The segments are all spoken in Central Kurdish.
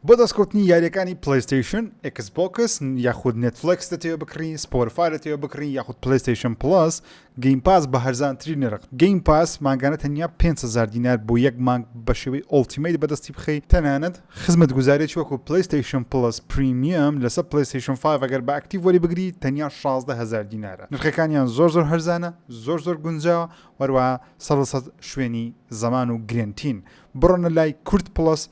بۆ دەستکەوتنی یاریەکانی پلەیستەیشن، ئێکس بۆکس یاخود نێتفلێکس دەتەوێ بکڕی، سپۆرفا دەتەوێ بکڕی یاخود پلەیستەیشن پڵەس، گەیم پاس بە هەرزانترین نرخ. گەیم پاس مانگانە تەنیا پێنج هەزار دینار بۆ یەک مانگ بە شێوەی ئۆڵتیمەیت بەدەستی بخەی، تەنانەت خزمەتگوزاریەکی وەکو پلەیستەیشن پڵەس پریمیەم لەسەر پلەیستەیشن فایڤ ئەگەر بە ئەکتیڤ وەریبگری تەنیا شازدە هەزار دینارە. نرخەکانیان زۆر زۆر هەرزانە، زۆر زۆر گونجاوە و هەروەها سەد لە سەد شوێنی زەمان و گرێنتین. بڕۆنە لای کورد پڵەس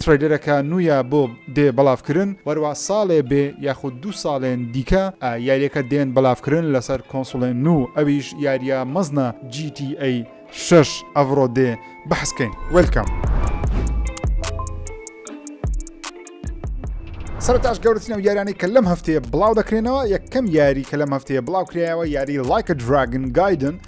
ترەیلەرەکە نوویە بۆ دێ بەڵاڤکرن وەروا ساڵێ بێ یاخود دوو ساڵێن دیکە ئە یاریەکە دێن بەڵاڤکرن لەسەر کۆنسوڵێ نوو ئەویش یاریە مەزنە جی تی ئەی شەش ئەڤڕۆ دێ بەحس کەین وێلکەم. سەرەتاش گەورەترین ئەو یارانەی کە لەم هەفتەیە بڵاو دەکرێنەوە یەکەم یاری کە لەم هەفتەیە بڵاو کرایەوە یاری لایکە دراگن گایدن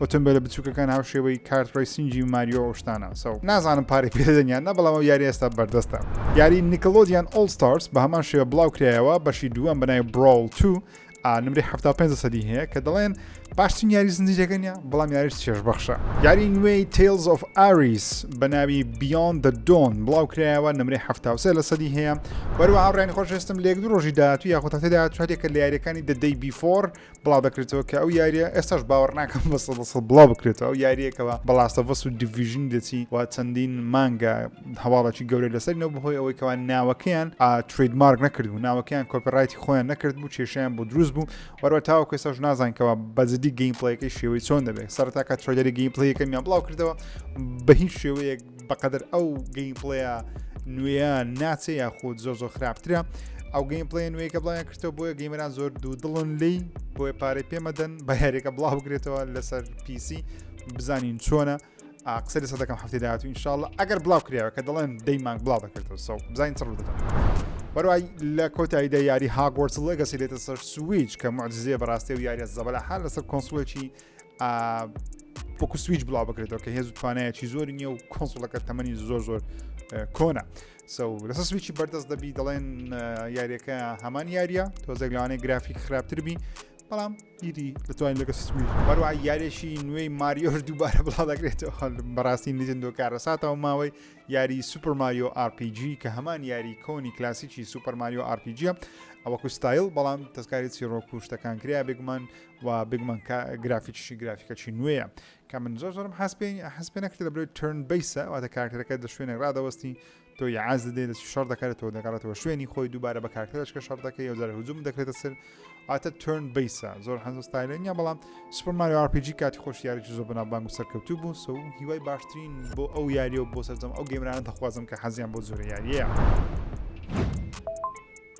ئۆتۆمبێلە بچووکەکان هاوشێوەی کارت ڕیسینگی ماریۆ ئەو شتانە سەو نازانم پارەی پێدەنیان نە بەڵام ئەو یاری ئێستا بەردەستە یاری نیکلۆدیان ئۆڵ ستارس بە هەمان شێوە بڵاو کرایەوە بەشی دووەم بەنای براول تو نمری 75 سەدی هەیە کە دەڵێن باشترین یاری زنجیرەکە نیە بەڵام یاریش چێژبەخشە یاری نوێی تیلز of ئاریس بە ناوی بیان دە دۆن بڵاو کرایەوە نمری هەفتاوسێ لە سەدی هەیە وەروە هاوڕێن خۆشێستم لێک درۆژی داات و یاخۆتەتەدا چاتێکە لە یاریەکانی دەدەی بیفۆر بڵاو دەکرێتەوە کە ئەو یاریە ئێستاش باوەڕ ناکەم بە سەد سەد بڵاو بکرێتەوە ئەو یاریەکەەوە بەڵاستەڤەس و دیڤژنی دەچی و چەندین مانگە هەواڵەکی گەورە لەسەرینەوە بەهۆی ئەوەی کەوان ناوەکەیان ترید مارک نەکرد و ناوەکەیان کۆپرایتی خۆیان نەکرد بوو کێشیان بۆ دروست بوو وەرە تاوە کێساش نازانکەوە بەجددی گەیمپلەکەی شێوەی چۆن دەبێت سەرتاکە ترۆدەری گەیمپلەکەمیان بڵاو کردەوە بە هیچ شێوەیەک بەقەدر ئەو گەین پڵەیە نوێە ناچێ یاخود زۆر زۆر خراپترە ئەو گەین پڵێ نوێیکە بڵیان کردەوە بۆیە گەیمەران زۆر دوو دڵن لی بۆیە پارەی پێمەدەن بە هەرێکە بڵاو بگرێتەوە لەسەر پیسی بزانین چۆنە قسە لەسە دەکەم هەفتی داات و انشاءله ئەگەر بڵاو کراوە کە دەڵێن دەی مانگ بڵاو دەکردەوە سە بزانین چڕ دەکەم بەروای لە کۆتاییدا یاری هاگۆرسڵە گەسی لێتە سەر سویچ کە معزیێ بەڕاستی و یاریە زەبەلە حال لەسەر کۆنسڵێکی پۆکو سویچ بڵاو بکرێتەوە کە هێز و توانایەکی زۆر نییە و کۆنسڵەکە تەمەنی زۆر زۆر کۆنا لەسە سویچی بەردەست دەبی دەڵێن یاریەکە هەمان یاریە تۆزێک لەوانەیە گرافیک خراپتر بی بەڵام ئیدی دەتوانین لەگە سوی بەروای یارێکی نوێی ماریۆش دووبارە بڵا دەکرێتەوە بەڕاستی نجندۆ کارەساتەوە ماوەی یاری سوپەر ماریۆ RPG کە هەمان یاری کۆنی کلاسیکی سوپەر ماریۆ RPG ئەوەکو ستایل بەڵام تەسکاری چیڕۆک و شتەکان کریا بێگومان و بگمەن کە گرافیکیشی گرافیکەکی نوێیە کە من زۆر زۆرم حەز پێ حەز پێ نەکرێت لە برۆی ترن بیسە واتە کارکتەرەکە لە شوێنێک ڕادەوەستی تۆ یاعاز دێ دەستی شەڕ دەکات تۆ دەگەڕێتەوە شوێنی خۆی دووبارە بە کارکتەرەشکە شەڕ دەکەی یو جارە هجووم دەکرێتە سەر ئاتە ترن بیسە زۆر حەزە ستایلێنە بەڵام سوپەرماری RPG کاتی خۆش یاریی زۆر بەنابانگ و سەرکەوتوو بوو سو هیوای باشترین بۆ ئەو یاریە و بۆ سەرجەم ئەو گەمرانە دەخوازم کە حەزیان بۆ زۆرە یاریە.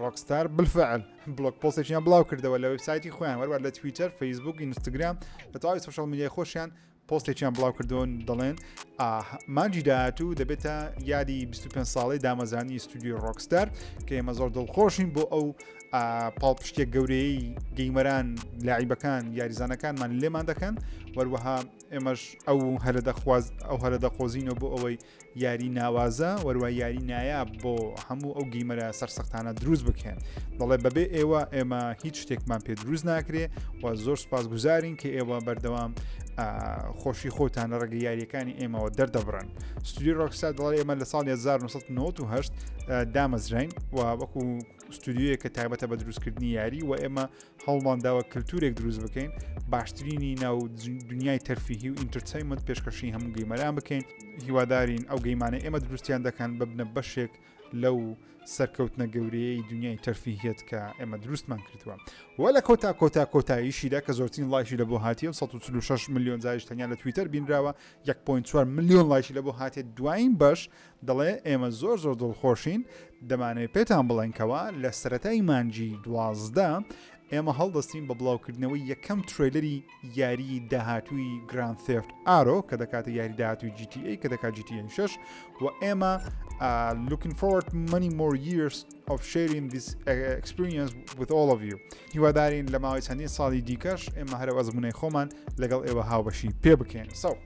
ڕۆکستار بلفعل بلوک پۆسێکیان بڵاو کردەوە لە وبسایتی خۆیان وەروە لە تویتەر فەیسبوک ئینستاگرام لە تەواوی سوشال میدیای خۆشیان پۆستێکیان بڵاو کردوون دەڵێن مانجی داهاتوو دەبێتە یادی 25 ساڵی دامەزانی ستودیو ڕۆکستار کە ئێمە زۆر دڵخۆشین بۆ ئەو پاڵپشتێک گەورەی گەیمەران لاعیبەکان یاریزانەکانمان لێمان دەکەن وەروەها ئێمەش ئەو هەرە دەخواز ئەو هەرە دەخۆزینەوە بۆ ئەوەی یاری ناوازە وەروای یاری نایاب بۆ هەموو ئەو گیمەرە سەرسەختانە دروست بکەن دەڵێ بەبێ ئێوە ئێمە هیچ شتێکمان پێ دروست ناکرێ و زۆر سپاس گوزارین کە ئێوە بەردەوام خۆشی خۆتان لە ڕێگە یاریەکانی ئێمەوە دەردەبڕن ستوری ڕۆکسا دەڵێ ئێمە لە ساڵ 1998 دامەزراین و وەکو ستودیویە کە تایبەتە بە دروستکردنی یاری و ئێمە هەوڵمانداوە کللتورێک دروست بکەین باشترینی ناو دنیای تەرفیهی و ئینترتەیمەند پێشکەشی هەموو گەیمەران بکەین هیوادارین ئەو گەیمانە ئێمە دروستیان دەکەن ببنە بەشێک لەو سەرکەوتنە گەورەیەی دنیای تەرفیهێت کە ئێمە دروستمان کردووە وە لە کۆتا کۆتا کۆتاییشیدا کە زۆرترین لایشی لە بۆ هااتیە 16 میلیۆن زایش تەنیا لە تویتەر بینراوە 1.4 میلیۆن لایشی لە بۆ هااتێ دوایین بەش دەڵێ ئێمە زۆر زۆر دڵخۆشین دەمانەوێت پێتان بڵێنکەوە لە سەتای مانجی دوازدە ئێمە هەڵدەستین بە بڵاوکردنەوەی یەکەم تریلەری یاریی داهاتووی گراند سفت ئارۆ کە دەکاتە یاری داهاتوی GTA کە دەکات GTA 6 و ئێمە لوکن فۆرد منی مۆر years of sharing this experience with all of you هیوادارین لە ماوەی چەندین ساڵی دیکەش ئێمە هەرە ئەزمونەی خۆمان لەگەڵ ئێوە هاوبەشی پێ بکەین سەو. So.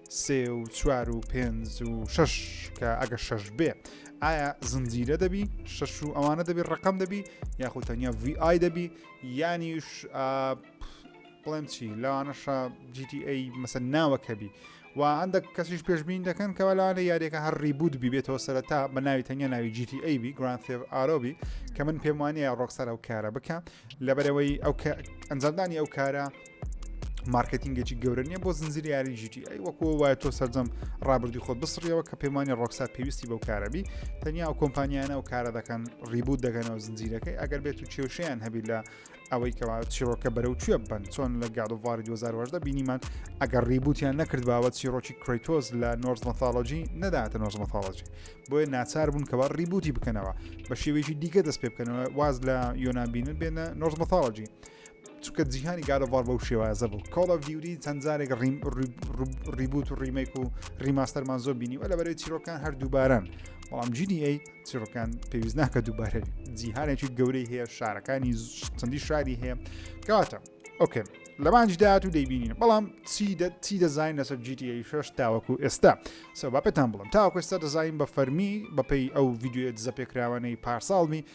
سێ و چوار و پێنج و شش کە ئەگە شش بێ ئایا زنجیرە دەبی شش و ئەوانە دەبی ڕقم دەبی یاخود تەنیا VI دەبی یانیش بڵێم چی لەوانەشە GTA مەسەر ناوەکەبی و هەندێک کەسیش پێشبین دەکەن کەەوە لەوانە یاریەکە هەر ریبوت ببێتەوە سەرەتا بە ناوی تەنیا ناوی GTA بی گرانفێ ئارۆبی کە من پێم وانەیە ڕۆکسەر ئەو کارە بکە لەبەرەوەی ئەو ئەنجامدانی ئەو کارە مارکتینگێکی گەورە نیە بۆ زنجیر یاری ژیتی ئەی وەکو وایە تۆ سەررجەم ڕابردی خۆت بسڕیەوە کە پێمانی ڕۆکسا پێویستی بەو کارەبی تەنیا ئەو کۆمپانیانە و کارە دەکەن ڕیبوو دەگەنەوە زنجیرەکەی ئەگەر بێت و کێوشیان هەبی لە ئەوەی کەوا چیرۆکە بەرەو کوێ بن چۆن لە گادوواری 2010 بینیمان ئەگەر ڕیبوتیان نەکرد باوە چیرۆکی کریتۆز لە نۆرز مەثالۆجی نەداتە نۆرز مەثالۆجی بۆیە ناچار بوون کەوا ڕیبوتی بکەنەوە بە شێوێکی دیکە دەست پێ بکەنەوە واز لە یۆنابینن بێنە نۆرز مەثالۆجی چونکە جیهانی گارۆڤار بەو شێوازە بوو کۆڵ ئەف دیوری چەند جارێک ڕیبوت و ڕیمێک و ڕیماستەرمان زۆر بینی و لە بەرەی چیرۆکان هەر دووباران بەڵام جیدی ئەی چیرۆکان پێویست ناکە دووبارە جیهانێکی گەورەی هەیە شارەکانی چەندی شاری هەیە کەواتە ئۆکێ لەمانج داات و دەیبینین بەڵام چی دەزانین لەسەر جیتی شش تاوەکو ئێستا سەبا پێتان بڵم تاوەکو ئێستا دەزانین بە فەرمی بەپی ئەو یددیوێت زەپێکراوانەی پارساڵمی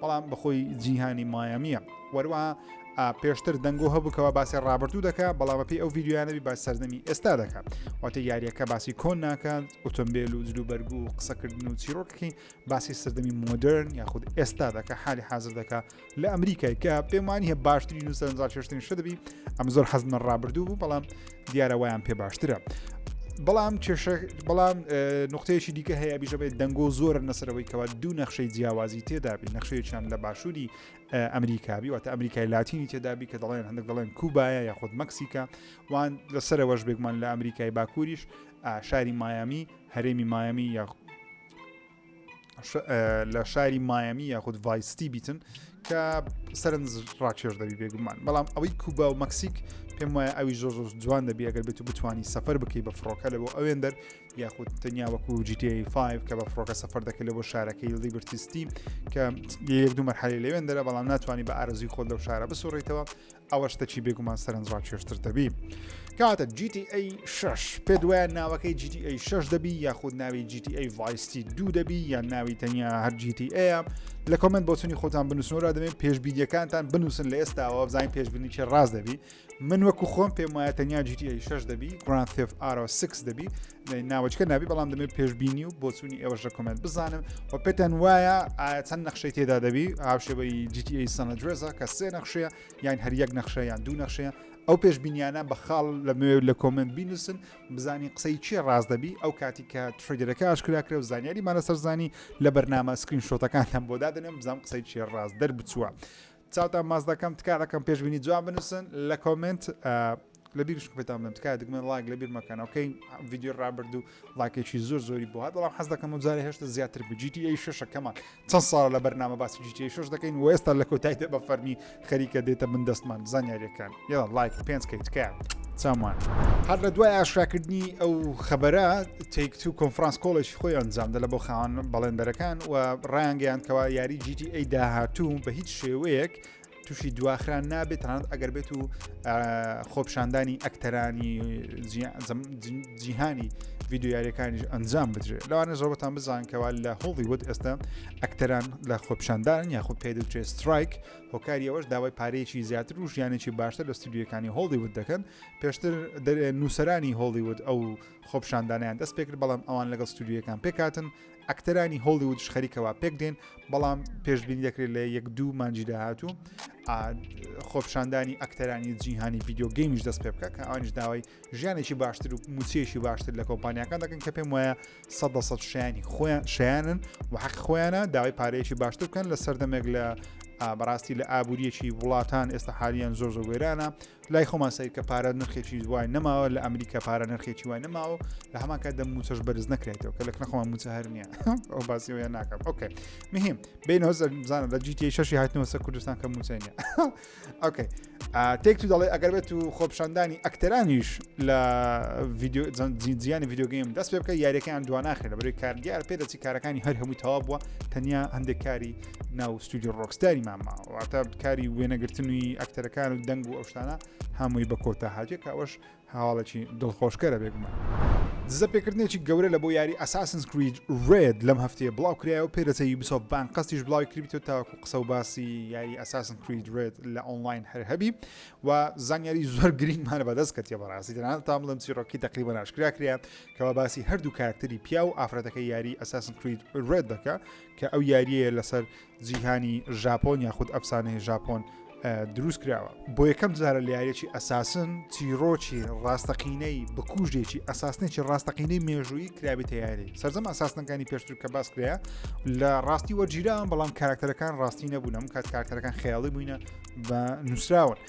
بەڵام بەخۆی جیهانی مایامیە وەروە پێشتر دەنگۆ هەبووکەوە باسی ڕابردوو دەکە بەڵامە پێی ئەو یددیویانەبی باس سەردەمی ئێستا دەکات واتە یاریەکە باسی کۆن ناکات ئۆتۆمبیل و جلو بەرگ و قسەکردن و چیرۆکەکەی باسی سەردەمی مۆدررن یاخود ئێستا دەکە حالی حاضر دەکە لە ئەمریکای کە پێمانی هە باشترین و سەرنجڕاکێشتنی شدەبی ئەم زۆر حەزمە ڕابردوو بوو بەڵام دیارە وایان پێ باشترە. بەڵام کێشە بەڵام نقطەیەکی دیکە هەیە بیژەبێت دەنگۆ زۆر نەسەرەوەی کەوا دوو نەخشەی جیاوازی تێدابی نەخشەیەکیان لە باشووری ئەمریکابی واتە ئەمریکای لاتینی تێدابی کە دەڵێن هەندێک دەڵێن کوبایە یاخود مەکسیکا وان لەسەرەوەش بێگومان لە ئەمریکای باکووریش شاری مایامی هەرێمی مایامی یا لە شاری مایەمی یاخود ڤایستی بیتن کە سەرنج ڕاکێش دەبی بێگومان بەڵام ئەوەی کوبا و مەکسیک پێم وایە ئەوی زۆر زۆر جوان دەبی ئەگەر بێت و بتانی سەفەر بکەی بە فڕۆکە لە بۆ ئەوێن دەر یاخود تەنیا وەکو GTA5 کە بە فڕۆکە سەفەر دەکەی لە بۆ شارەکەی لدی برتیستی کە یەک دوو مەرحەلی لەوێن دەرە بەڵام ناتوانانی بە ئارزوی خۆت لەو شارە بسوڕیتەوە ئەوە شتەکی بێگومان سەرنج ڕاکێشتر دەبی کاتە GTA 6 پێ دوایە ناوەکەی GTA 6 دەبی یاخود ناوی GTA ڤایستی دوو دەبی یان ناوی تەنیا هەر GTA لە کۆمنت بۆچنی خۆتان بنووسنەوە دەبێن پێشبیدیەکانتان بنووسن لە ئێستاەوە بزانین پێشببینیکە ڕاست دەبی من وەکو خۆم پێم وایە تەنیا GTA 6 دەبی گران تف ئارۆ 6 دەبی ناوەچکە نابی بەڵام دەمێ پێشببینی و بۆچوونی ئێوەش لە کۆمنت بزانم و پێتان وایە چەند نەخشەی تێدا دەبی هاوشێوەی GTA سەنە درێزە کە سێ نەخشەیە یان هەر یەک نەخشە یان دوو نەخشەیە ئەو پێشببینیانە بە خاڵ لە مێ لە کۆمنت بینوسن بزانین قسەی چێ ڕاست دەبی ئەو کاتی کە تریدەکە ئاشکراکرێ و زانیاری مانە سەرزانی لە بەرنامە سکرین شۆتەکانتان بۆ دادنێم بزانام قسەی چێ ڕاست دەربچووە. چاوتان ماچ دەکەم تکایە ڕەقەم پێشبینی جوان بنووسن لە کۆمنت لە بیر شکتان بم تکایە دگمەن ڵاک لە بیر مەکەن ئەوکەی ڤیددیو ڕابرد و ڵاکێکی زۆر زۆری بۆ هات بەڵام حەز دەکەم و جارە هێشتا زیاتر بوو جیتی ئەی شەکەمان چەند ساڵ لە بەرنامە باسی جیتی شش دەکەین و ئێستا لە کۆتایدا بە فەرمی خەریکە دێتە من دەستمان زانیاریەکان. یەڵا ڵایک پێنج کەی تکایە چاومان. هەر لە دوای ئاشراکردنی ئەو خەبەرە تێکت و کۆنفرانس کۆڵێکی خۆی ئەنجامدا لە بۆ خاوان بەڵێندەرەکان و ڕایانگەیان کەوا یاری جیتی ئەی داهاتوو بە هیچ شێوەیەک تووشی دواخران نابێت تەنانەت ئەگەر بێت و خۆپشاندانی ئەکتەرانی جیهانی ویددیویارەکانیش ئەنجام بدرێت لەوانە زۆربەتان بزانکەوە لە هۆڵی وت ئێستا ئەکتەران لە خۆپشاندان یاخود پێدوچێ سترایک هۆکاری ئەوەش داوای پارەیەکی زیاتر و ژیانێکی باشتر لە ستودیوەکانی هۆڵیوود دەکەن پێشتر نووسرانی هۆڵیوود ئەو خۆپشاندانیان دەست پێکرد بەڵام ئەوان لەگەڵ ستودیوەکان پێکاتن ئەکتەرانی هۆڵیوودش خەریکەوە پێک دێن بەڵام پێشببین دەکرێت لە یەک دوو مانجی داهاتوو خۆپشاندانی ئەکتەرانی جیهانی ڤیددیو گەیمیش دەست پێ بکە کە ئەوانش داوای ژیانێکی باشتر و موچەیەکی باشتر لە کۆمپانیەکان دەکەن کە پێم وایە سەد بە سەد شیانی خۆیان شیانن و حەق خۆیانە داوای پارەیەکی باشتر بکەن لە سەردەمێک لە بەڕاستی لە ئابوووریەکی وڵاتان ئێستا حالیان زۆر زۆر وێرانە لای خۆمان سیر کە پارە نرخێکی دوای نەماوە لە ئەمریکا پارە نرخێکی وای نەماوە لە هەماکە دەم موچەش بەرز نەکرێتەوە کە لە نەخۆمان موچە هەر نیە ئەو باسیەوە ناکەم ئۆکە مهم بینەوە بزانە لە جیتی شەشی هاتنەوەسە کوردستان کە موچەنیە ئۆکەی تێک تو دەڵێ ئەگەر بێت و خۆپشاندانی ئەکتەرانیش لە جیانی یددیوگەیم دەست پێ بکە یاریەکەیان دواناخێ لە بەروی کار دیار پێ دەچی کارەکانی هەر هەمووی تەوا بووە تەنیا هەندێک کاری ناو ستودیو ڕۆکستاری ماماواتە کاری وێنەگرتنوی ئەکتەرەکان و دەنگ و ئەوشتانە هەمووی بە کۆتا هااتێک ئەوش هەواڵێکی دڵخۆشکەرە بێگومان. دزە پێکردنێکی گەورە لە بۆ یاری ئەساسنس کرید رێد لەم هەفتەیە بڵاو کرایەوە پێدەچێ یوبیسۆفت بان قەستیش بڵاوی کردبیتەوە تاوەکو قسە و باسی یاری ئەساسن کرید رێد لە ئۆنڵاین هەر هەبی و زانیاری زۆر گرینگمان بەدەست کەتیە بەڕاستی تەنانەت تا بڵێم چیڕۆکی تەقریبا ناشکرا کرا کەوا باسی هەردوو کارکتەری پیا و ئافرەتەکە یاری ئەساسن کرید رێد دەکە کە ئەو یاریەیە لەسەر جیهانی ژاپۆن یاخود ئەفسانەی ژاپۆن دروست کراوە بۆ یەکەم جارە لە یاریەکی ئەساسن چیرۆکی ڕاستەقینەی بکوژێکی ئەساسنێکی ڕاستەقینەی مێژووی کرابی تیاری سەرجەم ئەساسنەکانی پێشتر کە باس کرا لە ڕاستی وەرگیران بەڵام کارکتەرەکان ڕاستی نەبوونم کات کارکتەرەکان خیاڵی بووینە بە نووسراون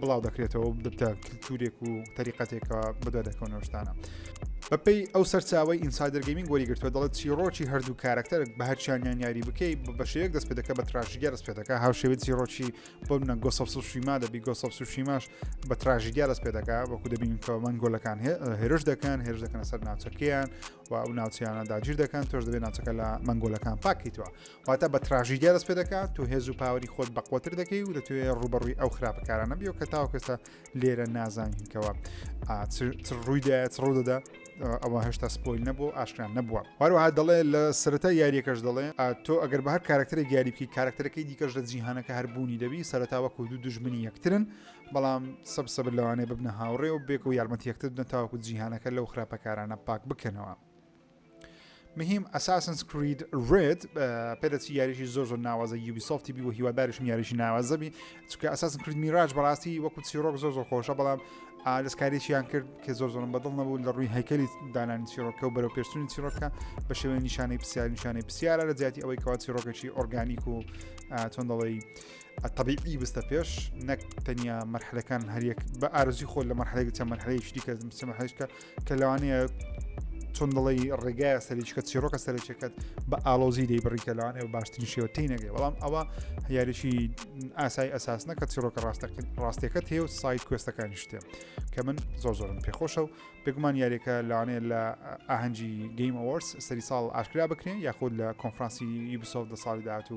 بڵاو دەکرێتەوە دەبتە کللتورێک و تەریقەتێکە بەدا دەکەونەشتانە. بەپی ئەو سەرچاوی ئینسایدرگەیمین گۆری گرتووە دەڵێت چیرۆکی هەردوو کارکتەر بە هەرچیانیان یاری بکەیت بە شێک دەست پێ دەکە بە تراژیگە دەست پێ دەکە هاوشێوی چیرۆکی بۆ منە گۆسەف سوشیما دەبی گۆسەف سوشیماش بە تراژیگە دەست پێ دەکە وەکو دەبین کە من گۆلەکان هێرش دەکەن هێرش دەکەنە سەر ناوچەکەیان و ئەو ناوچیانە داگیر دەکەن تۆش دەبێت ناوچەکە لە مەنگۆلەکان پاکیتەوە واتە بە تراژیدیا دەست پێ دەکات تۆ هێز و پاوەری خۆت بەقوتر دەکەی و دەتوێ ڕوبەڕووی ئەو خراپەکارانە بیەوە کە تاوکەستا لێرە نازانینکەوە ڕوویدا ڕوو دەدا ئەوە هەشتا سپۆیل نەبوو ئاشکران نەبووە هەروەها دەڵێ لە سەرەتا یاریەکەش دەڵێ تۆ ئەگەر بە هەر کارکتەرە یاری بکەی کارکتەرەکەی دیکەش لە جیهانەکە هەربوونی دەبی سەرتاوە کود و دژمنی یەکترن بەڵام سەب سەبر لەوانێ ببنە هاوڕێ و بێک و یارمەتی یەکتر دەن تاوەکو جیهانەکە لەو خراپەکارانە پاک بکەنەوە مهم ئەساسنس کرید ڕێت پێدەچی یاریشی زۆر زۆر ناوازە یوبی سۆفتی بی و هیوادارشم یاریشی ناوازەبی چکە ئەساسن کرید میراج بەڕاستی وەکو چیرۆک زۆر زۆر خۆشە بەڵام دەستکاریشیان کرد کە زۆر زۆرم بەدڵ نەبوو لە ڕووی هەیکلی دانانی چیرۆکە و بەرەو پێشتونی چیرۆکە بە شێوەی نیشانەی پرسیار نیشانەی پرسیارە لە جیاتی ئەوەی کەوا چیرۆکێکی ئۆرگانیک و چۆن دەڵی طبیعی بستە پێش نەک تەنیا مەرحلەکان هەریەک بە ئارزی خۆل لە مەرحەیەک چە مەرحەیە شتیکە مەرحەیشکە کە لەوانەیە چۆن دڵی ڕێگایە سەریچکە چیرۆکە سەرچەکەت بە ئالۆزی دەی بڕیکە لەوانێ و باشترین شێوە تی نەگەی بەڵام ئەوە یاریشی ئاسای ئەساسنە کە چیرۆکە ڕاستەکەت هەیە و سایت کوێستەکانی شتێ کە من زۆر زۆرم پێخۆشە و بێگومان یاریەکە لەوانێ لە ئاهەنگی گەیم ئەوەرس سەری ساڵ ئاشکرا بکرێن یاخود لە کۆنفرانسی یوبسۆف دە ساڵی داات و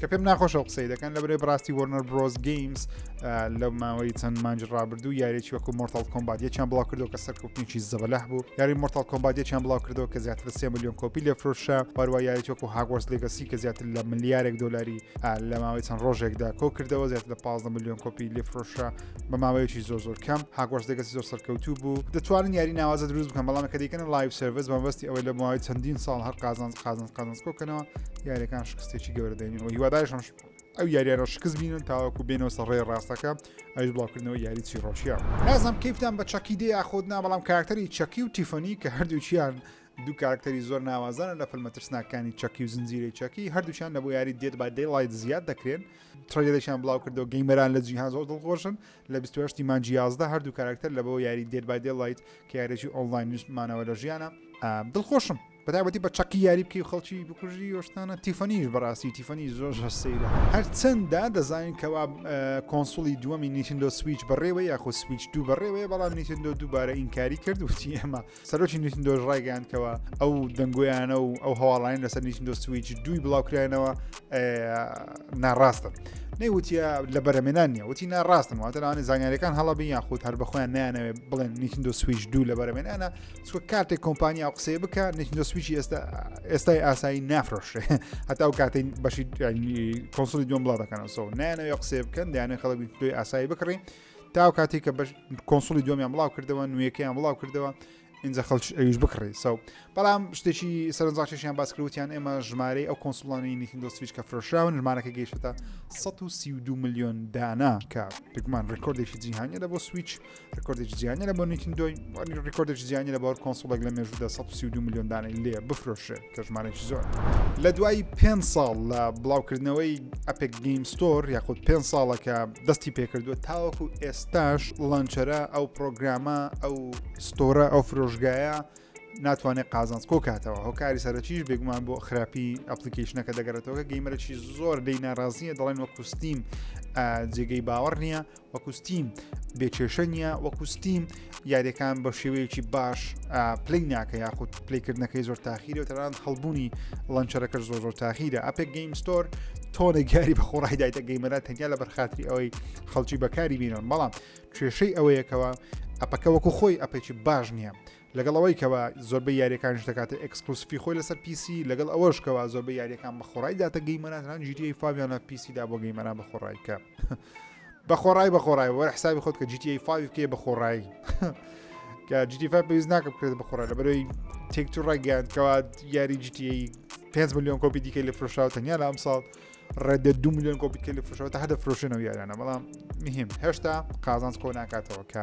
کە پێم ناخۆشە قسەی دەکەن لە برێ بڕاستی وەرنەر برۆز گەیمز لە ماوەی چەند مانج ڕابردوو یاریی وەکو مۆرتال کۆمبات یەکیان بڵاو کردو کە سەرکوپنیی زەبەلح بوو یاری مۆرتال کۆمبات یەکیان بڵاو کردەوە کە زیاتر سێ میلیۆن کۆپی لە فرۆشە پاروا یاریی وەکو هاگۆرس لێگەسی کە زیاتر لە ملیارێک دلاری لە ماوەی چەند ڕۆژێکدا کۆ کردەوە زیاتر لە 15 میلیۆن کۆپی لێ فرۆشە بە ماوەیەکی زۆر زۆر کەم هاگۆرس لێگەسی زۆر سەرکەوتوو بوو دەتوانن یاری ناوازە دروست بکەن بەڵام کە دیکەن لایف سرویس بەمبستی ئەوەی لە ماوەی چەندین ساڵ هەر قازانز قازانز قازانز کۆکەنەوە یاریەکان شکست شتێکی گەورە دەینەوە هیوادارشم ئەو یاریانەوە شکست بینن تاوەکو بێنەوە سەڕێ ڕاستەکە ئەوش بڵاوکردنەوە یاری چیڕۆشیە نازم کەیفتان بە چەکی دێ یاخود نا بەڵام کاراکتەری چەکی و تیفەنی کە هەردووچیان دوو کارکتەری زۆر ناوازانە لە فلمە ترسناکانی چەکی و زنجیرەی چەکی هەردووچان لە بۆ یاری دێت با دەی لایت زیاد دەکرێن ترەیەدەشان بڵاو کردەوە گەیمەران لە جیهان زۆر دڵخۆشن لە 28 مانجیازدا هەردوو کارکتەر لە بۆ یاری دێت با دێ لایت کە یارێکی ئۆنلاین نیشتمانەوە لە ژیانە دڵخۆشم بەتابەتی بە چەقی یاری بکەی خەڵکی بکوژی وەشتانە تیفەنیش بەڕاستی تیفەنی زۆر هەر سەیرە هەرچەنددا دەزانین کەوا کۆنسوڵی دووەمی نیتندۆ سویچ بەڕێوە یاخۆ سویچ دوو بەڕێوەیە بەڵام نیتندۆ دووبارە ئینکاری کرد وتی ئێمە سەرۆکی نیتندۆش ڕایگەیاندکەوە ئەو دەنگۆیانە و ئەو هەواڵانی لەسەر نیتندۆ سویچ دووی بڵاوکراینەوە ناڕاستن نەیوتە لە بەرەمێنان نیە وتی ناڕاستن واتەوانانی زانیارەکان هەڵە بین یاخود هەر بەخۆیان نیانەوێ بڵێن نیتندۆ سویچ دوو لە بەرەمێنانە چوە کاتێک کۆمپانیا و قسەی بکە نتنۆ سویچی ئێستا ئێستای ئاسایی نافرۆشێ هەتا و کاتین بەشی کۆنسلی دوم بڵاو دەکەنەوە نانەوە قسێ بکەن دایانە خەڵک توی ئاسایی بکڕی تا و کاتی کە کۆنسلی دومیان بڵاو کردەوە نوێەکەیان بڵاو کردەوە اینجا خەڵک ئەویش بکڕی سەو بەڵام شتێکی سەرنجڕاکێکیان باسکروتیان ئێمە ژمارەی ئەو کۆنسلانی نیتنۆ سویچ کە فرۆشراون ژمارەکە گەیشتە 132 میلیۆن دانا کە پێکمان ڕێکۆردێکی جیهانیە لە بۆ سویچ ڕکۆردێکی جیانی لە بۆ نیتندۆی وانی ڕکۆردێکی جیانی لە باوەر کۆنسڵێک لە مێژودا 132 میلیۆن دانەی لێ بفرۆشێ کە ژمارێکی زۆر لە دوای پێ ساڵ لە بڵاوکردنەوەی ئەپێک گەیم ستۆر یاخود پێ ساڵەکە دەستی پێکردووە تاوەکو ئێستاش لانچەرە ئەو پرۆگرامە ئەو ستۆرە ئەو فرۆژگایە ناتوانێت قازانس کۆ کاتەوە هۆکاری سەرەکیش بێگومان بۆ خراپی ئەپلیکیشنەکە دەگەرێتەوە گەیمەرەی زۆر لی ناڕازیە دەڵێن وە کوستیم جێگەی باوەڕ نییە وەکو ستیم بێ کێشە نییە وەکو ستیم یاریەکان بە شێوەیەکی باش پلی ناکە یاخود پلیکردنەکەی زۆر تاخیرە و تەران هەڵبوونی لەنچەرەکە زۆر زۆر تاخیرە ئەپێک گەیم ستۆر تۆنە گیاری بە خۆڕای دایتە گەیمەرە تەنیا لە بەرخاتری ئەوەی خەڵکی بەکاری بینن بەڵام کێشەی ئەوەیەکەوە ئەپەکە وەکو خۆی ئەپێکی باش نییە لەگەڵ ئەوەی کەوا زۆربەی یاریەکانش دەکاتە ئەکسکلوسفی خۆی لەسەر پیسی لەگەڵ ئەوەش کەوا زۆربەی یاریەکان بە خۆڕای داتە گەیمەرانان جیتی فاویانە پیسیدا بۆ گەیمەران بە خۆڕای کە بە خۆڕای بە خۆڕای وەرە حسابی خۆت کە جیتی فاوی بکەی بە خۆڕایی کە جیتی فا پێویست ناکە بکرێت بە خۆڕای لە بەرەوەی تێک تو ڕێگەیاندکەوە یاری جیتی 5 میلیۆن کۆپی دیکە لە فرۆشاو تەنیا لە ئەم ساڵ ڕێدە دو میلیۆن کۆپیکە لە فرۆشەوە تا هەدە فرۆشێنەوە یاریانە بەڵام مهم هێشتا قازانس کۆ ناکاتەوە کە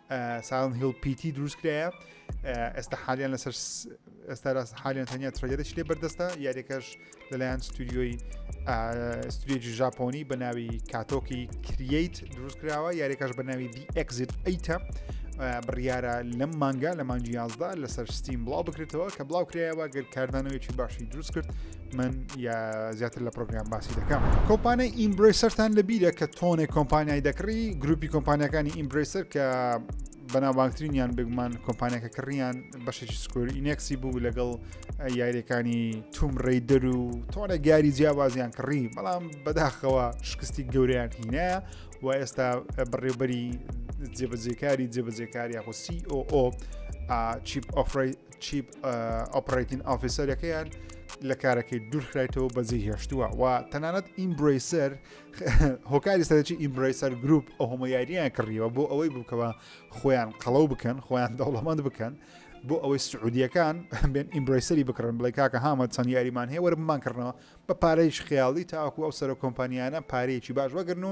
ساون هیل پیتی دروست کرایە ئێستا حالیان لەسەر ئێستا راست حالیان تەنیا ترەجێتش لێ بەردەستە یاریەکەش لەلایەن ستودیۆی ستودیۆی ژاپۆنی بە ناوی کاتۆکی کرییت دروست کراوە یاریەکەش بە ناوی دی ئەکزیت ئەیتە بڕیارە لەم مانگا لە مانجی یازدا لەسەر ستیم بڵاو بکرێتەوە کە بڵاو کرایەوە گەر کاردانەوەیکی باشی دروست کرد من یا زیاتر لە پرۆگرام باسی دەکەم کۆمپانای ئیمبرسەرتان لە بیرە کە تۆنێک کۆمپانیای دەکڕی گروپی کۆمپانیەکانی ئیمبرسەر کە بەناوانترینیان بگومان کۆمپانیەکە کڕیان بەشێکی سکۆری ئینەکسی بوو لەگەڵ یاریەکانی توم ڕێدەر و تۆنە گاری جیاوازیان کڕی بەڵام بەداخەوە شکستی گەوریان هینە و ئێستا بڕێوبەری جێبەجێکاری جێبەجێکاری یاخۆ COO چیپ ئۆفری چیپ ئۆپرەتین ئافیسەرەکەیان لە کارەکەی دوورخرایتەوە بەجێ هێشتووە و تەنانەت ئیمبریسەر هۆکاری سەرەکی ئیمبریسەر گروپ ئەو هەمە یاریان کڕیەوە بۆ ئەوەی بووکەوە خۆیان قەڵەو بکەن خۆیان دەوڵەمەند بکەن بۆ ئەوەی سعودیەکان بێن ئیمبریسەری بکڕن بڵێ کاکە هامە چەند یاریمان هەیە وەرممان کردنەوە بە پارەیش خیاڵی تاکو ئەو سەر کۆمپانیانە پارەیەکی باش وەگرن و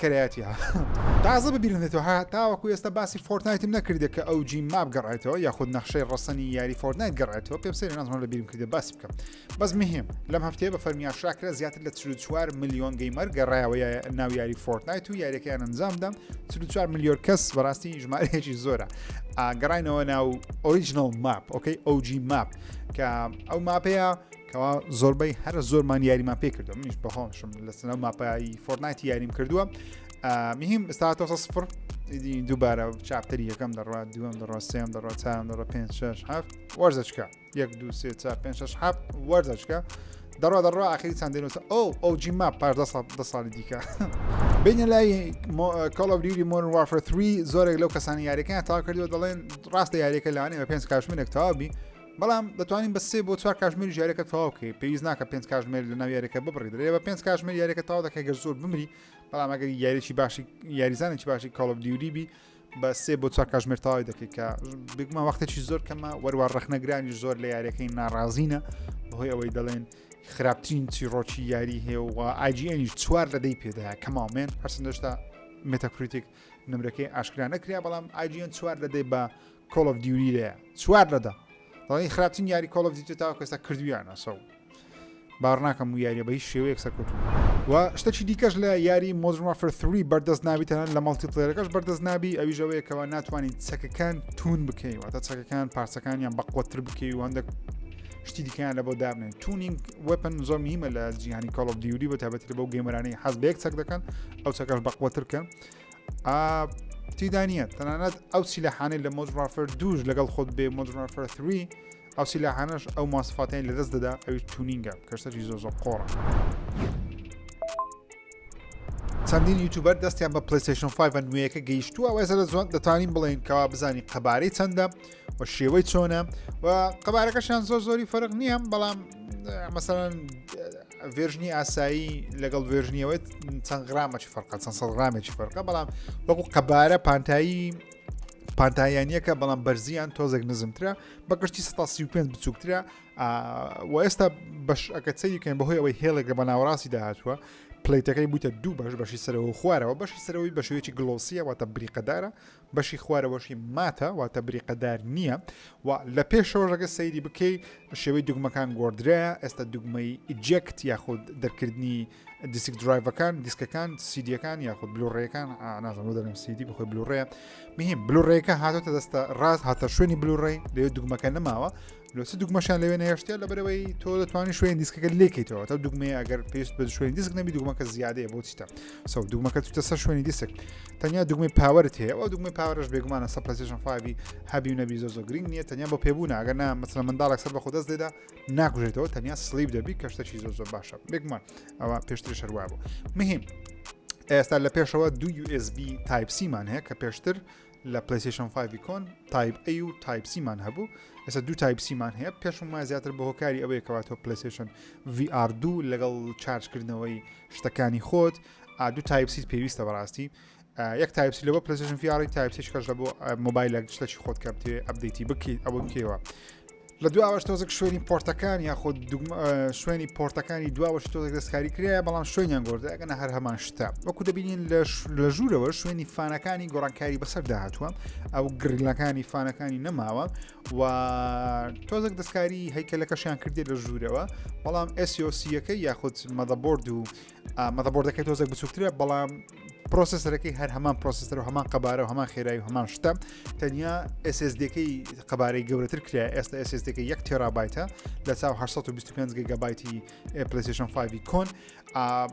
کرایەتی ها تازە ببیرم دێتەوە ها تاوەکو ئێستا باسی فۆرتنایتم نەکردێ کە ئەو جی ماب گەڕێتەوە یاخود نەخشەی ڕەسەنی یاری فۆرتنایت گەڕێتەوە پێم سەری نازمان لە بیرم کردە باس بکەم بەس مهم لەم هەفتەیە بە فەرمیان شاکرە زیاتر لە 4 میلیۆن گەیمەر گەڕایەوە ناو یاری فۆرتنایت و یاریەکەیان ئەنجامدەم 4 میلیۆر کەس بەڕاستی ژمارەیەکی زۆرە ئاگەڕینەوە ناو ئۆریژنال ماپ ئۆکەی ئەوجی ماپ کە ئەو ماپەیە کەوا زۆربەی هەرە زۆرمان یاریمان پێ کردو منیش بەهۆشم لەسەر ماپایی فۆرنایتی یاریم کردووە مهم ئستااتۆ سفر دووبارە چاپتەری یەکەم دەڕوا دووەم دەڕۆ سێم دەڕۆ چام دەڕۆ پێ شش هەفت وەرزەچکە یەک دو سێ چا پێ شش هەفت وەرزەچکە دەڕوا دەڕوا ئاخری چند دێنەوە ئەو ئەو جیما پار دە ساڵی دیکە بینە لای کاڵبریری مۆر وافر 3 زۆرێک لەو کەسانی یاریەکەیان تا کردووە دەڵێن ڕاستە یاریەکە لانێ بە پێنج کاشمێک تاوابی بەڵام دەتوانین بە سێ بۆ چوار کاتژمێریش یاریەکە تەواو بکەیت پێویست ناکە پێنج کاتژمێر لەناو یاریەکە ببڕی درێ بە پێنج کاتژمێر یاریەکە تەواو دەکەی گەر زۆر بمری بەڵام ئەگەر یاریی باشی یاریزانێکی باشی کاڵ ئۆف دیوری بی بە سێ بۆ چوار کاتژمێر تەواوی دەکەیت کە بگمە وەختێکی زۆر کەمە وەروە ڕەخنەگرانی زۆر لە یاریەکەی ناڕازینە بەهۆی ئەوەی دەڵێن خراپترین چیڕۆکی یاری هەیە و ئاجیێنیش چوار لە دەی پێداە کەماومێن هەرسندشتا متەکریتیک نمرەکەی ئاشکرا نەکریا بەڵام ئاجیان چوار لە دەی بە کۆڵ ئۆف دیوری لەیە چوار لە دە دەڵی خراپترین یاری کۆڵ ئۆف دیوتە تاوە کەستا کردویانە سەو بارناکەم و یاریە بە هیچ شێوەیەک سەرکەوتو و شتەکی دیکەش لە یاری مۆزرما فرثوری بەردەست نابی تەنان لە مەڵتی پلێرەکەش بەردەست نابی ئەویژەوەیە کەەوە ناتوانین چەکەکان تون بکەین واتە چەکەکان پارچەکانیان بەقوتر بکەی و هەندێک شتی دیکەیان لە بۆ دابنێن تونینگ وەپن زۆر میمە لە جیهانی کاڵ دیوری بە تابەتی بەو گەمەرانی حەز بێک چەک دەکەن ئەو چەکەش بەقوترکەن تیدا نییە تەنانەت ئەو سیلەحانەی لە مۆزرافەر دووش لەگەڵ خۆت بێ مۆزرافەر 3 ئەو سیلەحانەش ئەو ماسفاتیان لەدەست دەدا ئەوی تونینگە کەسەری زۆ زۆ قۆڕە چەندین یوتوبەر دەستیان بە پلیسشن 5 نوێیەکە گەیشتووە وەێزە لە زۆن دەتوانین بڵێن کەوا بزانین قەبارەی چەندە و شێوەی چۆنە و قەبارەکەشیان زۆر زۆری فەرق نییە بەڵام مەسەرەن ڤێژنی ئاسایی لەگەڵ ڤێژنیەوە چەند غرامەی فەرقە چەند سە غرامێکی فەرقە بەڵام وەکو قەبارە پانتایی پانتاییانیەکە بەڵام بەرزیان تۆزێک نزمترە بە گشتی 135 بچووکترە و ئێستا بەش ئەکە چەویکەن بەهۆی ئەوەی هێڵێکە بە ناوەڕاستی داهاتوە پلیتەکەی بووتە دوو بەش بەشی سەرەوە خوارەوە بەشی سەرەوەی بە شێوەیەکی گلۆسیە واتە بریقەدارە بەشی خوارەوەشی ماتە واتە بریقەدار نییە و لە پێشەوە ڕەگە سەیری بکەی شێوەی دوگمەکان گۆدرایە ئێستا دوگمەی ئیجێکت یاخود دەرکردنی دیسک درایڤەکان دیسکەکان سیدیەکان یاخود بلوڕێەکان ئانازم دەم سیدی بخۆی بلوڕێ مهم بلوڕێەکە هاتۆتە دەستە ڕاست هاتە شوێنی بلوڕێ لێ دوگمەکە نەماوە لۆ چ دوگمەشان لەوێ نەهێشتە لەبەرەوەی تۆ دەتوانانی شوێن دیسکەکە لێکیتەوە تا دوگمەیە ئەگەر پێست بە شوێن دیسک نەبی دوگمەکە زیادەیە بۆ چیتە سەو دوگمەکە چتە سەر شوێنی دیسک تەنیا دوگمەی پاوەرت هەیە ئەو دوگمەی پاوەرش بێگومانە سە پلسیشن فاوی هەبی و نەبی زۆ زۆ گرنگ نیە تەنیا بۆ پێبوو ناگەر نا مەسلە منداڵێک سەر بە خۆدەست دێدا ناکوژێتەوە تەنیا سلیب دەبی کەشتەکی زۆ زۆر باشە بێگومان ئەوە پێشتر شەروابوو مهم ئێستا لە پێشەوە دو USB تایپسیمان هەیە کە پێشتر لە پلەیستەیشن 5 کۆن تایپ ئەی و تایپ سیمان هەبوو ئێستا دوو تایپ سیمان هەیە پێشم وای زیاتر بە هۆکاری ئەوەیە کەواتەوە پلەیستەیشن VR دوو لەگەڵ چارجکردنەوەی شتەکانی خۆت ئادو تایپ سیت پێویستە بەڕاستی یەک تایپسی لەوە پلەیستەیشن VR تایپسیش کەش لە بۆ مۆبایلە شتەکی خۆت کە بتێ ئەبدەیتی بکەیت ئەوە کێوە لە دواوەش تۆزێک شوێنی پۆرتەکان یاخود شوێنی پۆرتەکانی دواوەش تۆزێک دەستکاری کرایە بەڵام شوێنیان گۆردە ئەگەنە هەر هەمان شتە وەکو دەبینین لە ژوورەوە شوێنی فانەکانی گۆڕانکاری بەسەر داهاتوە ئەو گرلەکانی فانەکانی نەماوە و تۆزێک دەستکاری هەیکەلەکەشیان کردێت لە ژوورەوە بەڵام ئەسیۆسیەکە یاخود مەدەبرد و مەدەبۆردەکەی تۆزێک بچووکترە بەڵام پرۆسسەرەکەی هەر هەمان پرۆسسەر و هەمان قەبارە و هەمان خێرای و هەمان شتە تەنیا SSDەکەی قەبارەی گەورەتر کرا ئێستا SSDەکە یەک تێرابایتە لە چاو 1925 گەگەبایتی پلیسیشن 5 کۆن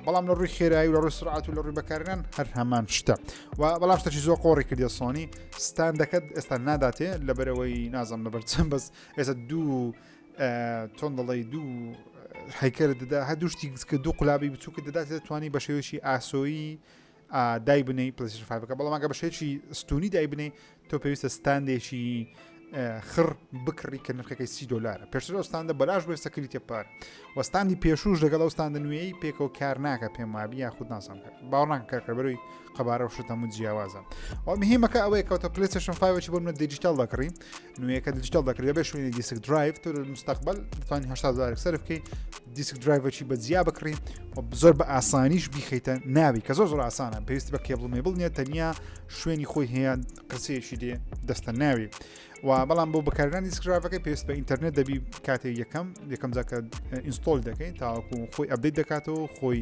بەڵام لە ڕووی خێرایی و لە ڕووی سرعات و لە ڕووی بەکاران هەر هەمان شتە و بەڵام شتەی زۆر قۆڕی کردە سۆنی ستان دەکەت ئێستا ناداتێ لەبەرەوەی نازم لەبەر چەند بەس ئێستا دوو چۆن دەڵی دوو حیکەر دەدا هە دوو شتی کە دوو قلابی بچووکە دەدات دەتوانانی بە شێوەیەکی ئاسۆیی دای بنەی پلسیفاکە بەڵامگە بە شێکی ستونی دای بنەی تۆ پێویستە ستاندێکی خڕ بکڕی کە نرخەکەی سی دلار پێشتر ئەوستاندە بەلاش بێ سەکری تێپار وەستاندی پێشوش لەگەڵ ئەوستاندە نوێی پێکەوە کار ناکە پێم وابی یاخود ناسان کرد باوەڕناکە کارکەبەروی قەبارە و شتەم و جیاوازە ئەو مهمەکە ئەوەیە کەوتە پلیسشن فاوەی بۆ منە دیجیتال دەکڕی نوێیەکە دیجیتال دەکرێت دەبێت شوێنی دیسک درایڤ تۆ مستقبل بتوانانی هشتا دلار سرف بکەیت دیسک درایڤەکی بە جیا بکڕی و زۆر بە ئاسانیش بیخیتە ناوی کە زۆر زۆر ئاسانە پێویستی بە کێبڵ مێبڵ نیە تەنیا شوێنی خۆی هەیە قرسەیەکی دێ دەستە ناوی و بەڵام بۆ بەکارگران دیسکراڤەکەی پێویست بە ئینتەرنێت دەبی کاتێک یەکەم یەکەم جاکە ئینستۆل دەکەین تاوەکو خۆی ئەبدەیت دەکاتەوە خۆی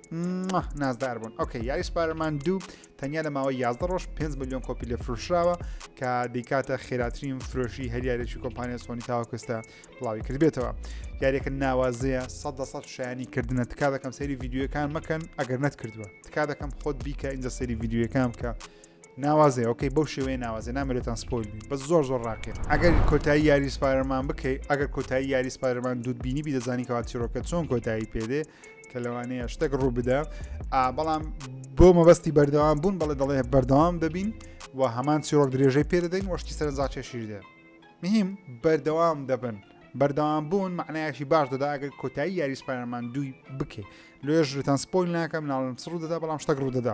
نازدار بوون ئۆکە یاری سپارەمان دوو تەنیا لە ماوە 11 ڕۆژ 5 میلیۆن کۆپی لە فرۆشراوە کە دیکاتە خێراترین فرۆشی هەریارێکی کۆمپانیا سۆنی تاوەکوستە بڵاوی کردبێتەوە یاریەکە ناوازەیە 100 شایانی کردنە تکا دەکەم سەری یددیوەکان مەکەن ئەگەر نەت کردووە تکا دەکەم خۆت بیکە ئینجا سەری یددیوەکان بکە ناوازێ ئۆکەی بەو شێوەیە ناوازێ نامەێتان سپۆل بە زۆر زۆر ڕاکێت ئەگەر کۆتایی یاری سپارەمان بکەیت ئەگەر کۆتایی یاری سپارەمان دوودبینی بی دەزانی کەوا چیرۆکە چۆن کۆتایی پێدێ کە لەوانەیە شتێک ڕوو بدە بەڵام بۆ مەبەستی بەردەوام بوون بەڵێ دەڵێ بەردەوام دەبین و هەمان چیرۆک درێژەی پێ دەدەین وەشتی سەرنجاچێشیر دێ مهم بەردەوام دەبن بەردەوام بوون معنایەکی باش دەدا ئەگەر کۆتایی یاریسپایرمان دووی بکەیت لێژتان سپۆیل ناکەم ناڵم سڕ دەدا بەڵام شتەک ڕوو دەدا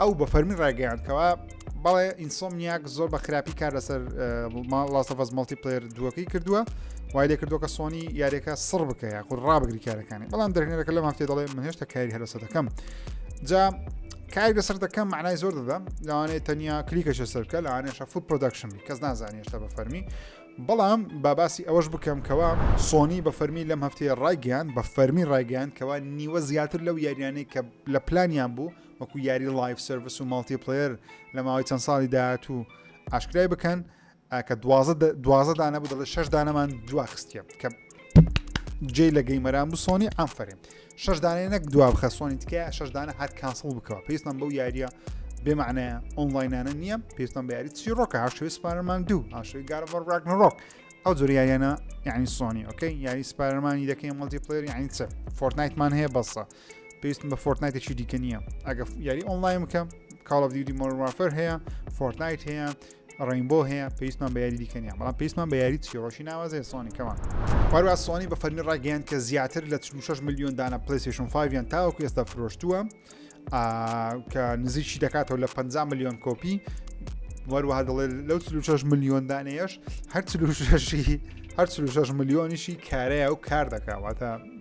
ئەو بە فەرمی ڕایگەیان کەوا بەڵێ ئینسۆمیاک زۆر بە خراپی کار لەسەر لاستەفەز مڵتی پلێر دووەکەی کردووە وای لێ کردوکە سۆنی یاریەکە سڕ بکە یاخود ڕابگری کارەکانی بەڵام دەرهێنەرەکە لە مافێ دەڵێ من هێشتا کاری هەرسە دەکەم جا کاری لەسەر دەکەم معنای زۆر دەدەم لەوانەیە تەنیا کلیکەشە سەرکە لەوانێشە فوت پرۆدەکشن کەس نازانانی هێشتا بە فەرمی بەڵام باباسی ئەوەش بکەم کەوا سۆنی بە فەرمی لەم هەفتەیە ڕایگەیان بە فەرمی ڕایگەیان کەوا نیوە زیاتر لەو یاریانەی کە لە پلانیان بوو وەکو یاری لایف سرویس و ماڵتی پلەر لە ماوەی چەند ساڵی داهاتوو ئاشکرای بکەن کە دوازە دانە بوو دەڵێ شش دانەمان دواخستە کە جێ لە گەیمەران بوو سۆنی ئەمفرێن شش دانێ نەک دوا بخە سۆنی تکە شش دانە هات کاسڵ بکەوە پێستان بەو یاریە بێمانەیە ئۆنلاینانە نییە پێستان بە یاری چی ڕۆکە هاشوی سپارمان دوو هاشوی گارڕ ڕاک نڕۆک ئەو زۆر یاریانە یعنی سۆنی ئۆکەی یاری سپارمانی دەکەین مڵتی پلێر یعنی چ فۆرنایتمان هەیە بەسە پێویستم بە فۆرتنایتێکی دیکە نییە ئەگە یاری ئۆنلاین بکەم کاڵ of دیودی مۆرمافەر هەیە فۆرتنایت هەیە ڕینبۆ هەیە پێویستمان بە یاری دیکەنیە بەڵام پێویستمان بە یاری چیڕۆشی ناوازێ سۆنی کەمان پاروا سۆنی بە فەرمی ڕاگەیان کە زیاتر لە 6 میلیۆن دانە پلیسیشن 5یان تاوەکو ئێستا فرۆشتووە کە نزیکی دەکاتەوە لە 50 میلیۆن کۆپی وەروەها دەڵێ لەو 6 میلیۆن دانەیەش هەر 6 هەر 6 میلیۆنیشی کارەیە و کار دەکاواتە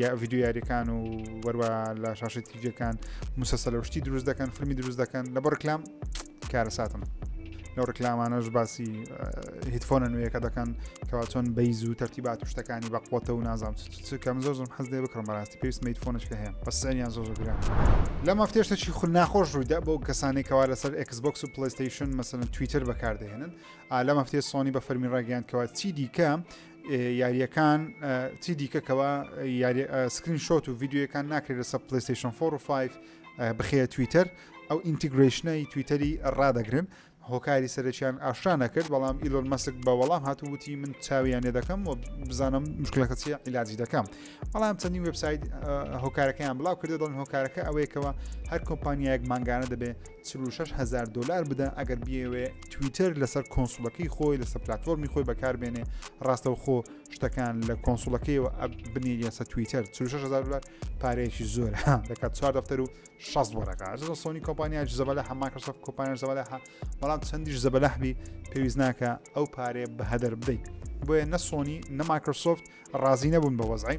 یا ڤیددیو یاریەکان و وەروە لە شاشی تیجەکان مسەسە لە شتی دروست دەکەن فلمی دروست دەکەن لە بۆ ڕکلام کارە ساتم لەو ڕکلامانەش باسی هیتفۆنە نوێیەکە دەکەن کەوا چۆن بەیز و تەرتیبات و شتەکانی بە قوتە و نازام کەم زۆر زۆم حەز دێ بکڕم بەڕاستی پێویست میتفۆنشکە هەیە بەسەریان زۆر زۆر گران لە مافتێشتەکی خو ناخۆش ڕوویدا بۆ کەسانێکەوە لەسەر ئەکسبکس و پلیستیشن مەسەن تویتر بەکاردەهێنن لە مەفتێ سۆنی بە فەرمی ڕاگەیاندکەوە چی دیکە یاریەکان چی دیکەکەەوە سکرین شۆت و یددیوەکان ناکرێت لەسە پلیستیشن 4 و 5 بخەیە تویتەر ئەو ئینتیگرشنەی تویتەری ڕدەگرن هۆکاری سەرچیان ئاشرا نەکرد بەڵام ئیلۆن مەسک بە وەڵام هاتووتی من چاویانێ دەکەم و بزانم مشکلەکە چیە عیلاجی دەکەم بەڵام چەندی وبسایت هۆکارەکەیان بڵاو کردێت دڵن هۆکارەکە ئەوەیەکەوە هەر کۆمپانیایەک مانگانە دەبێت چل و شەش هەزار دۆلار بدە ئەگەر بیەوێ تویتەر لەسەر کۆنسولەکەی خۆی لەسەر پلتفۆرمی خۆی بەکاربێنێ ڕاستەوخۆ شتەکان لە کۆنسولەکەیەوە ئەب بنێری لەسە تویتەر 36هزار دلار پارەیەکی زۆر دەکات چوار دەفتەر و 6 وەرەکە سۆنی کۆمپانیا زەبەلە هەماکەسە کۆپانیان زەبەلە بەڵام چەندیش زەبەلەحبی پێویست ناکە ئەو پارەیە بە هەدەر بدەیت بۆیە نە سۆنی نە ماکرسۆفت ڕازی نەبوون بە وەزعی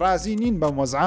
ڕازی نین بەم وەزعە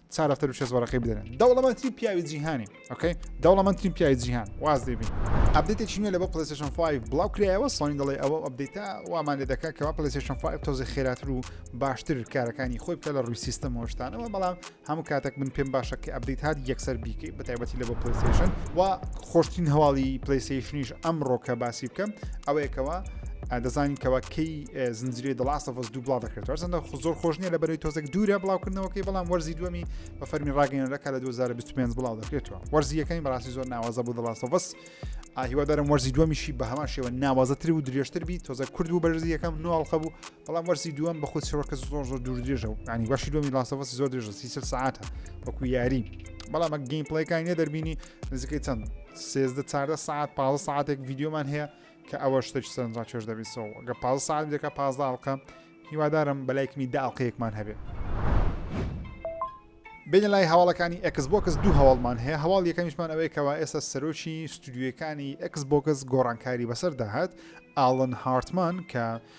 چا دەفتەر و شێز وەرەقەی بدەنێ دەوڵەمەندترین پیاوی جیهانی ئۆکەی دەوڵەمەندترین پیاوی جیهان واز دێبین ئەبدێتێکی نوێ لە بۆ پلسشن 5 بڵاو کرایەوە سۆنی دەڵێ ئەوە ئەبدەیتا وامان لێ دەکات کەوا پلسشن 5 تۆزی خێراتر و باشتر کارەکانی خۆی بکە لە ڕووی سیستم هۆشتانەوە بەڵام هەموو کاتێک من پێم باشە کە ئەبدیت هاات یەکسەر بیکەیت بە تایبەتی لە بۆ پلسشن و خۆشتین هەواڵی پلیسیشنیش ئەم ڕۆکە باسی بکەم ئەوەیەکەوە دەزانین کەوا کەی زنجری دڵاستەفز دوو بڵاو دەکرێت هەرچەندە زۆر خۆش نیە لە بەرەوەی تۆزێک دوورە بڵاوکردنەوەکەی بەڵام وەرزی دومی بە فەرمی ڕاگەنەکە لە 2025 بڵاو دەکرێتەوە وەرزیەکەی بەڕاستی زۆر ناوازە بوو دڵاستەفز ئاهیوادارم وەرزی دومیشی بە هەمان شێوە ناوازەتر و درێژتر بی تۆزە کورد و بەرزی یەکەم نوواڵخە بوو بەڵام وەرزی دووەم بە خود شەوەکە زۆر زۆر دوور درێژە و ینی باشی دومی لاستەفسی زۆر درێژە سی سعاتە وەکو یاری بەڵام گەیم پڵێکانی دەربینی نزیکەی چەند سێزدە چاردە سعات پازە ساعتێک یددیومان هەیە کە ئەوە شتێک سەرنج ڕاکێش دەبی سۆ گە پاز ساعت دێکە پازدا ئەڵقە هیوادارم بەلایکمی دا ئەڵلقەیەکمان هەبێ بینە لای هەواڵەکانی ئەکسبکس دوو هەواڵمان هەیە هەواڵ یەکەمیشمان ئەوەیە کەەوە ئێستا سەرۆکی ستودیوەکانی ئەکسبکس گۆڕانکاری بەسەر داهات ئاڵن هارتمان کە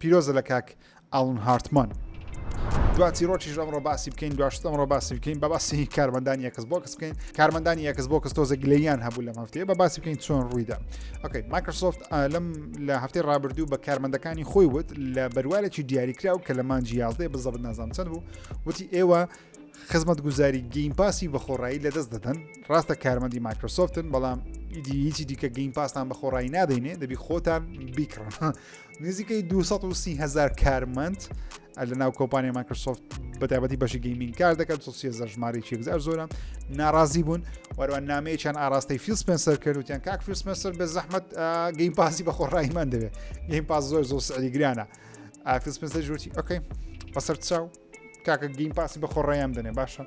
پیرۆزە لە کاک ئاڵن هارتمان. دوا چیرۆکیش ئەمڕۆ باسی بکەین دواشت ئەمڕۆ باسی بکەین بە باسی کارمەندانی ئەکس بۆکس بکەین کارمەندانی ئەکس بۆکس تۆزە گلەیان هەبوو لەم هەفتەیە بە باسی بکەین چۆن ڕوویدا ئۆکەی مایکرۆسۆفت لەم لە هەفتەی ڕابردوو بە کارمەندەکانی خۆی وت لە بەروارێکی دیاریکراو کە لە مانجی یازدەی بزەبت نازام چەند بوو وتی ئێوە خزمەت گوزاری گەیم پاسی بە خۆڕایی لەدەست دەدەن ڕاستە کارمەندی مایکرۆسۆفتن بەڵام ئیدی هیچی دیکە گەیم پاسان بە خۆڕایی نادەینێ دەبی خۆتان بیکڕن نزیکەی 230هزار کارمەند لە ناو کۆپانیا مایکرۆسۆفت بەتابەتی بەشی گەیمین کار دەکات سوسیێزە ژماری چێکزار زۆرە ناڕازی بوون وەروان نامەیەکیان ئاراستەی فیلسپنسەر کردوتیان کاک فیلسپنسەر بە زەحمت گەیم پاسی بە خۆڕایمان دەوێت گەیم پاس زۆر زۆر سعری گرانە ئافیلسپنسەر جوتی ئۆکەی بەسەر چاو کاکە گەیم پاسی بە خۆڕایان دەنێ باشە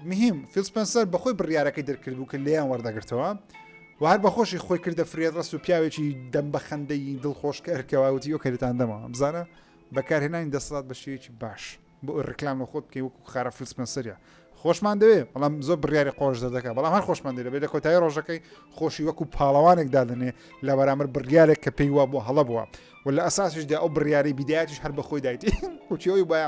مهیم، فیل سپێنسەر بە خۆی بڕیارەکەی دەرکردبوو کە لێیان وەردەگرتەوە و هەر بەخۆشی خۆی کردە فرێدڕەس و پیاوێکی دەم بە خەندەی دڵخۆش کە ئەرکەواوتی ئەو کەرتان دەمەوە بزانە بەکارهێنانی دەسەڵات بە شێوەیەکی باش بۆ ئەو ڕکلام لە خۆت بکەی وەکو خارە فیل سپێنسەریە خۆشمان دەوێ بەڵام زۆر بڕیاری قۆش دەردەکە بەڵام هەر خۆشمان دەێت بێت لە کۆتایی ڕۆژەکەی خۆشی وەکو پاڵەوانێک دادنێ لە بەرامەر بڕیارێک کە پێی وا بۆ هەڵە بووە و لە ئەساسیشدا ئەو بڕیاری بیدایەتیش هەر بەخۆی دایتی وچیەوەی باە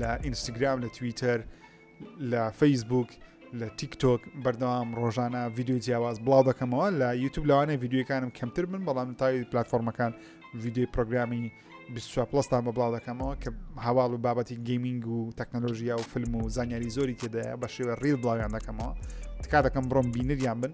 لە ئینستاگرام لە تویتەر لە فەیسبوک لە تیکتۆک بەردەوام ڕۆژانە ڤیددیو جیاواز بڵاو دەکەمەوە لە یوتوب لەوانە ڤیددیوەکانم کەمتر من بەڵام تاوی پلتفۆرمەکان ڤیددیوی پرۆگرامی پلستان بە بڵاو دەکەمەوە کە هەواڵ و بابەتی گەیمنگ و تەکنەلۆژییا و فلم و زانیاری زۆری تێدایە بە شێوە ڕیل بڵاویان دەکەمەوە تکا دەکەم بڕۆم بینریان بن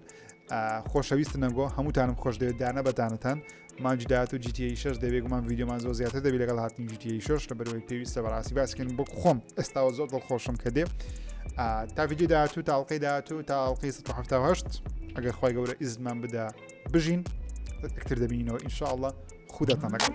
خۆشەویست نەگۆ هەمووتانم خۆش دەوێت دانە بەدانتان مانگی داهاتوو جی تی ئەی شەش دەبێ گومان ڤیدیۆمان زۆر زیاتر دەبی لەگەڵ هاتنی جی تی ئەی شەش لە بەرەوەی پێویستە بەڕاستی باسکردن بۆ خۆم ئێستاوە زۆر دڵخۆشم کە دێ تا ڤیدیو داهاتوو تاڵقی داهاتوو تا ئەڵلقی 1970 ئەگەر خی گەورە ئیزمان بدا بژین ئەکتر دەبینەوە ئینشاءله خودتان لەگەڵ.